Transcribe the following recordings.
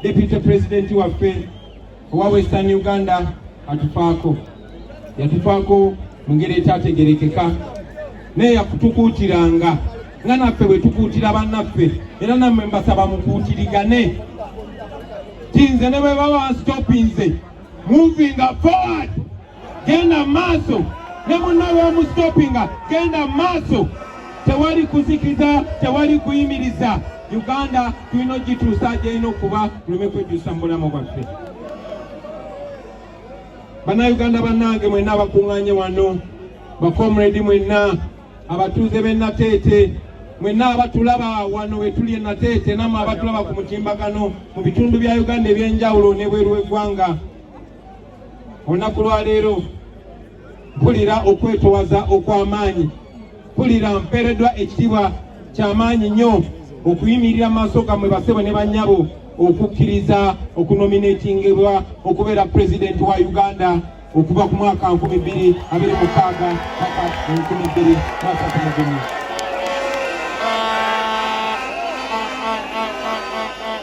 deputy president waffe owa western uganda atufaako yatufaako mu ngeri ekyategerekeka naye yakutukuutiranga nga naffe bwe tukuutira bannaffe era nammwe mbasaba mukuutirigane tinze ne bwe baba stopinze moving forward genda maaso ne munnawe omusitopinga genda maaso tewali kuzikiza tewali kuyimiriza uganda tulina ogituusa gyerina okuba tuleme kwejjusa mu bulamu bwaffe bannayuganda bannange mwenna abakuŋŋanye wano bakomredi mwenna abatuuze b'e nateete mwenna abatulaba wano wetuli e nateete namwe abatulaba ku mutimbagano mu bitundu bya uganda eby'enjawulo n'ebweru w'eggwanga olunaku lwa leero mpulira okwetowaza okw'amaanyi mpulira mpeereddwa ekitiibwa ky'amaanyi nnyo okuyimirira maaso gammwe basebo ne bannyabo okukkiriza okunominatingibwa okubeera pulezidenti wa uganda okuva ku mwaka 2 26 paka 2 mwaka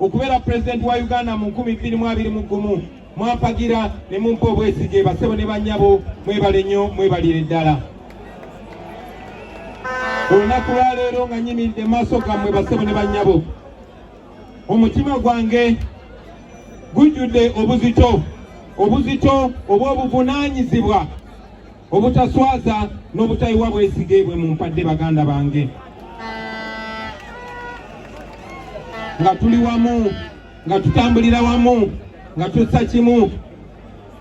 okubeera pulezidenti wa uganda mu nkumi bbiri mu abiri mu gumu mwampagira ne mumpa obwesige basebo ne bannyabo mwebale nnyo mwebalire ddala olunaku lwaleero nga nyimiridde maaso gammwe basebo ne bannyabo omutima gwange gujjudde obuzito obuzito obw'obuvunaanyizibwa obutaswaza n'obutayiwa bwesige bwe mu mpadde baganda bange nga tuli wamu nga tutambulira wamu nga tussa kimu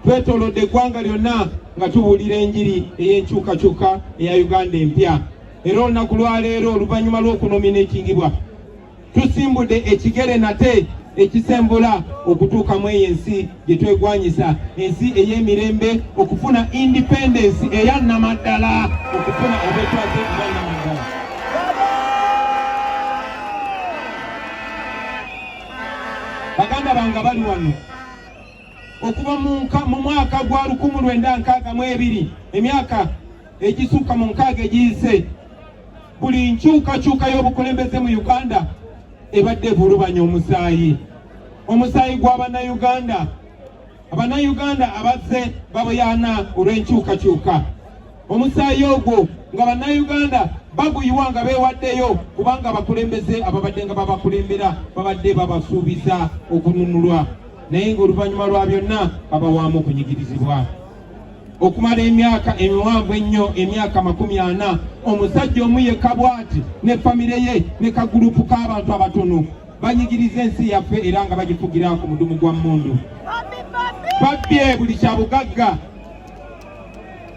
twetolodde eggwanga lyonna nga tubuulira enjiri ey'enkyukakyuka eya uganda empya era olunaku lwaleero oluvannyuma lw'okunomina ekingibwa tusimbudde ekigere nate ekisembula okutuuka mu eyo ensi gye twegwanyisa ensi ey'emirembe okufuna independence eya namaddala okufuna abetwaze abanamaddala baganda bange bali wano okuva mu mwaka gwa lukumu lwenda nkaaga mu ebiri emyaka egisuuka mu nkaaga egiyise buli nkyukakyuka y'obukulembeze mu uganda ebadde evulubanya omusaayi omusaayi gwa bannayuganda abannayuganda abazze baboyaana olw'enkyukakyuka omusaayi ogwo nga bannayuganda baguyiwa nga beewaddeyo kubanga abakulembeze ababadde nga babakulembera babadde babasuubiza okununulwa naye ng'oluvannyuma lwa byonna babawaamu okunyigirizibwa okumala emyaka emiwanvu ennyo emyaka makumi ana omusajja omu yekka bw'ati ne famire ye ne kagulupu k'abantu abatono banyigiriza ensi yaffe era nga bagifugira ku mudumu gwa mmundu babbye buli kya bugagga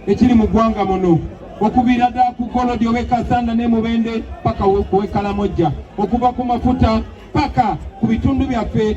ekiri mu ggwanga muno okuviira ddala ku golodi ow'e kasanda ne mubende paka ow'e kalamojja okuva ku mafuta paka ku bitundu byaffe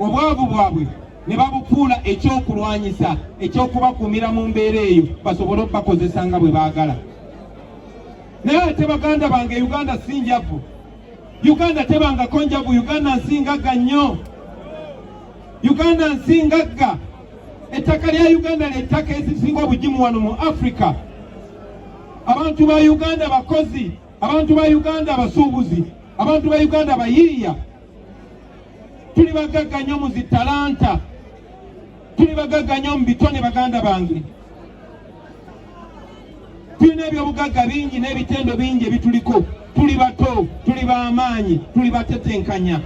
obwavu bwabwe ne babufuula ekyokulwanyisa ekyokubakuumira mu mbeera eyo basobole okubakozesa nga bwe baagala naye ate baganda bange uganda si njavu uganda tebangako njavu uganda nsi ngagga nnyo uganda nsi ngagga ettaka lya uganda lyettaka ezisinga obugimu wano mu afrika abantu ba uganda bakozi Abantu ba Uganda abasuubuzi, abantu ba Uganda bayiiya, tuli bagagga nnyo mu zi talanta, tuli bagagga nnyo mu bitone. Baganda bange, tulina ebyobugagga bingi n'ebitendo bingi ebituliko. Tuli bato, tuli b'amaanyi, tuli batetenkanya.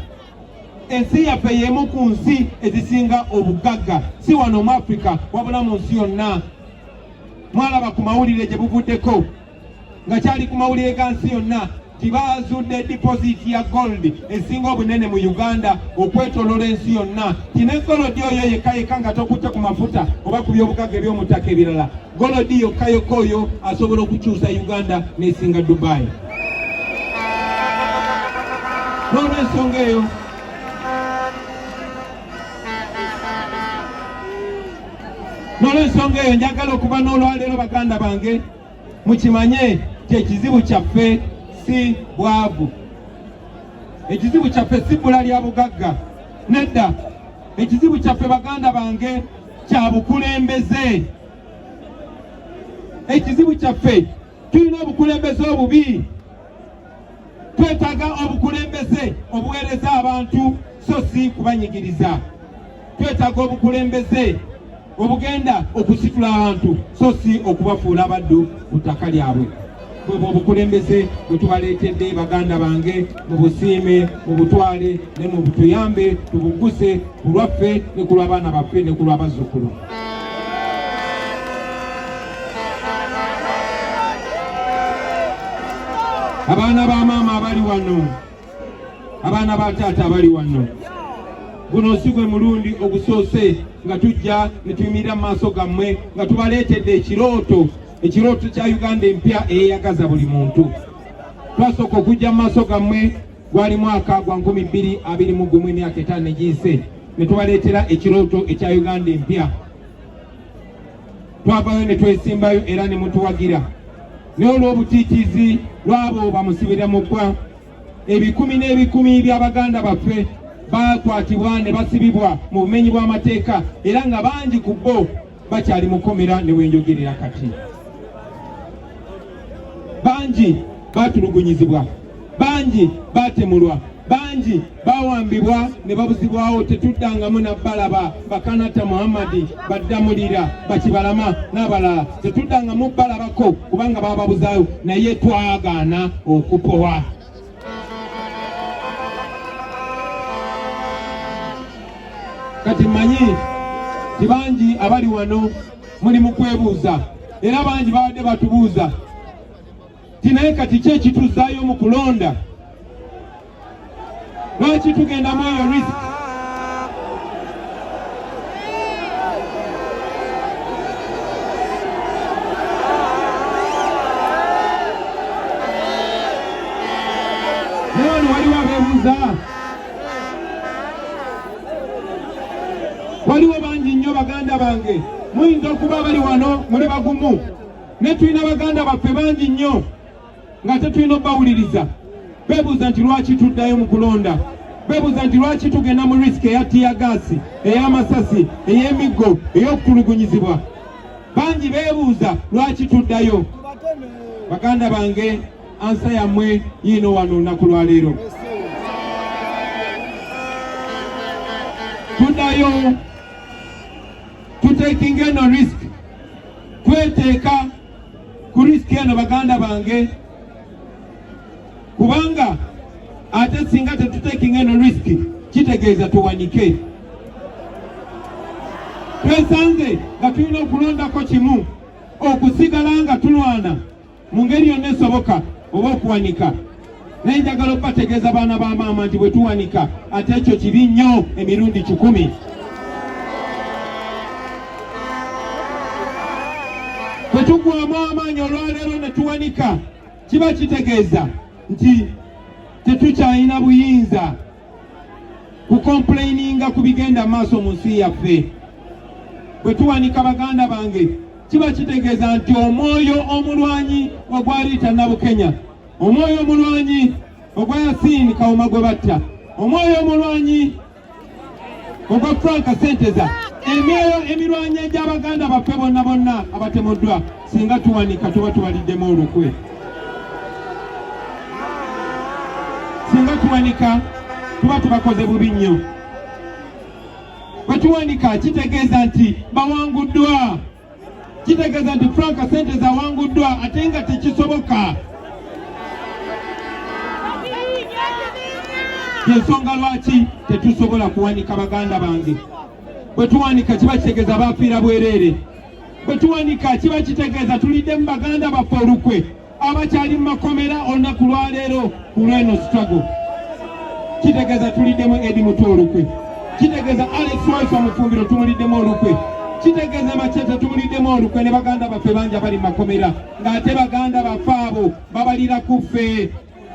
Ensi yaffe y'emu ku nsi ezisinga obugagga, si wano mu Afrika wabula mu nsi yonna. Mwalaba ku mawulire gye buvuddeko. nga kyali ku mawulire ga nsi yonna nti baazudde dipoziti ya gold esinga obunene mu uganda okwetolola ensi yonna ti ne golodi oyo yekka yekka nga tokutte ku mafuta oba ku byobugagga eby'omuttaka ebirala golodi yokka yokka oyo asobola okukyusa uganda n'esinga dubai n'olwensonga eyo n'olwensonga eyo njagala okuba n'olwaleero baganda bange mukimanye nti ekizibu kyaffe si bwavu ekizibu kyaffe si bbula lya bugagga nedda ekizibu kyaffe baganda bange kya bukulembeze ekizibu kyaffe tulina obukulembeze obubi Twetaaga obukulembeze obuweereza abantu so si kubanyigiriza. Twetaaga obukulembeze obugenda okusitula abantu so si okubafuula abaddu ku ttaka lyabwe. bwebwo obukulembeze bwetubaleetedde baganda bange mu busiime mu butwale ne mu butuyambe tubuguse ku lwaffe ne ku lw'abaana baffe ne ku lw'abazzukulu abaana ba maama abali wano abaana ba taata abali wano guno si gwe mulundi ogusoose nga tujja ne tuyimirira mu maaso gammwe nga tubaleetedde ekirooto ekirooto kya uganda empya eyeyagaza buli muntu twasooka okujja mu maaso gammwe gwali mwaka gwa nkumi bbiri abiri mu gumu emyaka etaano egiyise ne tubaleetera ekirooto ekya uganda empya twavayo ne twesimbayo era ne mutuwagira naye olw'obutiitiizi lwabo bamusibira mu ggwa ebikumi n'ebikumi by'abaganda baffe baakwatibwa ne basibibwa mu bumenyi bw'amateeka era nga bangi ku bo bakyali mukomera ne wenjogerera kati bangi baatulugunyizibwa bangi baatemulwa bangi bawambibwa ne babuzibwawo tetuddangamu nabbalaba bakanatta muhammadi baddamulira bakibalama n'abalala tetuddangamu bbalabako kubanga bababuzayo naye twagaana okupowa kati mmanyi tibangi abali wano muli mu kwebuuza era bangi babadde batubuuza ti naye kati ki ekituzzaayo mu kulonda lwaki tugenda mu eyo risk newano waliwo abeebuuza waliwo bangi nnyo baganda bange muyinza okuba bali wano muli bagumu naye tulina baganda baffe bangi nnyo nga tetulina okubawuliriza bebuuza nti lwaki tuddayo mu kulonda bebuuza nti lwaki tugenda mu risiki eya tiyagaasi ey'amasasi ey'emiggo ey'okutulugunyizibwa bangi bebuuza lwaki tuddayo baganda bange ansa yammwe yiino wano olunaku lwaleero tuddayo tutekinga eno risiki kweteeka ku risiki eno baganda bange kubanga ate singa tetutekinga eno risiki kitegeeza tuwanike twesanze nga tulina okulondako kimu okusigala nga tulwana mu ngeri yonna esoboka oba okuwanika naye njagala okubategeeza baana ba maama nti bwe tuwanika ate ekyo kibi nnyo emirundi kikumi bwe tugwamu amaanyi olwaleero ne tuwanika kiba kitegeeza nti tetukyalina buyinza kukompuleyininga ku bigenda maaso mu nsi yaffe bwe tuwanika baganda bange kiba kitegeeza nti omwoyo omulwanyi ogwaliita nabukenya omwoyo omulwanyi ogwa yasiini kawuma gwe batta omwoyo omulwanyi ogwa franka senteza emyoyo emirwanyi egy'abaganda baffe bonna bonna abatemuddwa Singa tuwanika tuba tubaliddemu olukwe. Singa tuwanika tuba tubakoze bubi nnyo. Bwe tuwanika kitegeeza nti bawanguddwa, kitegeeza nti Frank Sente zawanguddwa ate nga tekisoboka. yensonga lwaki tetusobola kuwanika baganda bange bwe tuwanika kiba kitegeeza baafiira bwereere bwe tuwanika kiba kitegeeza tulidde mu baganda baffe olukwe abakyali mu makomera olunaku lwaleero ku lweno sitwago kitegeeza tuliddemu edi mutu olukwe kitegeeza alex waife omufumbiro tumuliddemu olukwe kitegeeza maceta tumuliddemu olukwe ne baganda baffe bangi abali mu makomera ng'ate baganda baffe abo babalira ku ffe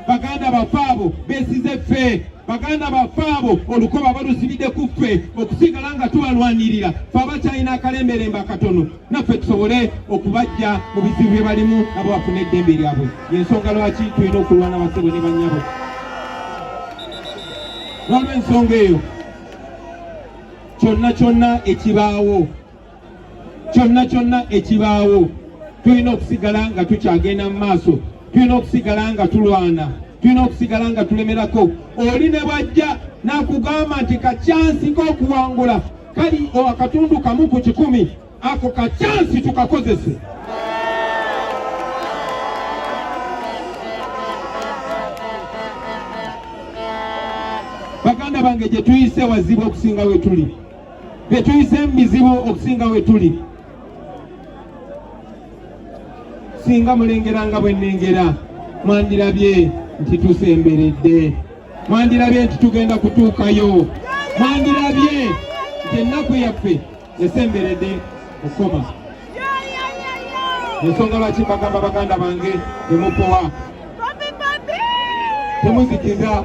baganda baffe abo besize ffe baganda baffe abo olukoba balusibidde ku ffe okusigala nga tubalwanirira fe abakyalina akalemberembe akatono naffe tusobole okubajja mu bizibu bye balimu abo bafuna eddembe lyabwe yensonga lwaki tulina okulwana basebo ne bannyabo waliwo ensonga eyo kyonna kyonna ekibaawo kyonna kyonna ekibaawo tulina okusigala nga tukyagenda mu maaso tulina okusigala nga tulwana tulina okusigala nga tulemerako oli ne bwajja nakugamba nti kakyansi k'okuwangula kali akatundu kamu ku kikumi ako kakyansi tukakozese baganda bange gye tuyise wazibu okusinga we tuli bye tuyise mu bizibu okusinga we tuli singa mulengera nga bwe nnengera mwandirabye nti tusemberedde mwandirabye nti tugenda kutuukayo mwandirabye nti ennaku yaffe esemberedde okukoma ensonga lwaki bagamba baganda bange temupowa temuzikiza